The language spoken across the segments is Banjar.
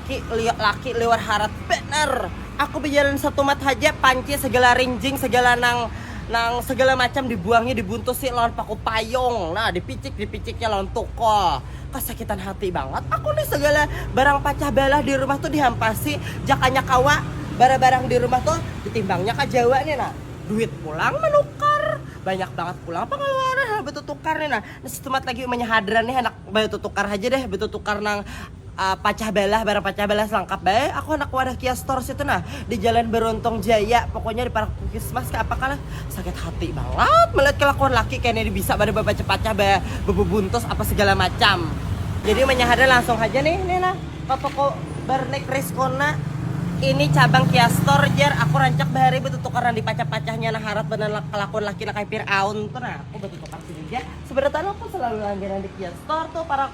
Ki, liok laki liwar harat banar. Aku bajalan satumat haja, panci sagala rinjing, sagala nang nang sagala macam dibuangi, dibuntusi lawan paku payung. Nah, dipicik dipiciknya lawan tukul. Kasakitan hati bangat aku nih sagala barang pacah balah di rumah tuh dihampasi, jakanya kawa barabarang di rumah tuh ditimbangnya ka Jawa nih nah. Duit pulang manukar, banyak bangat pulang pangaluaran handak batutukar nih nah. Nah, satumat lagi umanya hadran nih handak batutukar haja deh, batutukar nang. Pacah balah, barang pacah balah selangkap bae, aku handak wadah kia store situ nah, di jalan Beruntung Jaya, pokoknya di parak Pukismas kah apa kah lah, sakit hati bangat melihat kelakuan laki kene bisa banar bapacah pacah ba bebubuntus apa segala macam, jadi manyahada langsung haja nih nih nah ka toko Barnek Rizkona, ini cabang kia store jar aku rancak bahari betutukar nang di pacah pacahnya nah harat banar kelakuan laki nang kaya pir'aun tu nah, aku betutukar sini ja, sebenarnya aku selalu langganan di kia store tu parak.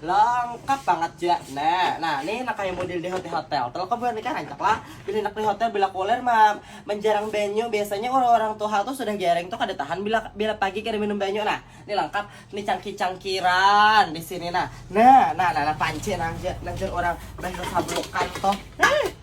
Lengkap banget ja. Nah, nah nih nak kayak model di hotel-hotel. Kalau kau buat nikah rancak lah. Bila nak di hotel bila kuler mah menjarang banyu. Biasanya orang-orang tuha tuh sudah gereng tuh kada tahan bila bila pagi kada minum banyu. Nah, ini lengkap. Ini cangki-cangkiran di sini nah. Nah, nah, nah, nah panci nah, nah orang banyu sablukan tuh. Nah.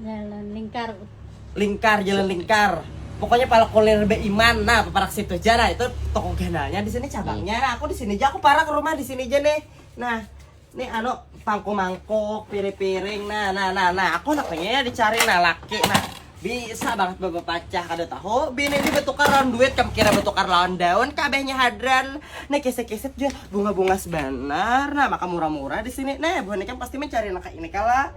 Jalan lingkar. Lingkar, jalan lingkar. Pokoknya kalau kuliah lebih iman, nah parak situ aja lah itu toko ganalnya di sini cabangnya. Nah, aku di sini aja aku parak ke rumah di sini aja nih. Nah, nih anu pangku mangkuk, piring-piring. Nah, nah, nah, nah, aku nak pengen dicari nah laki nah bisa banget bapak pacah kada tahu bini ini bertukar lawan duit kamu kira bertukar lawan daun kabehnya hadran nih kisah-kisah juga bunga-bunga sebenar nah maka murah-murah di sini nah buah ini kan pasti mencari anak ini kalah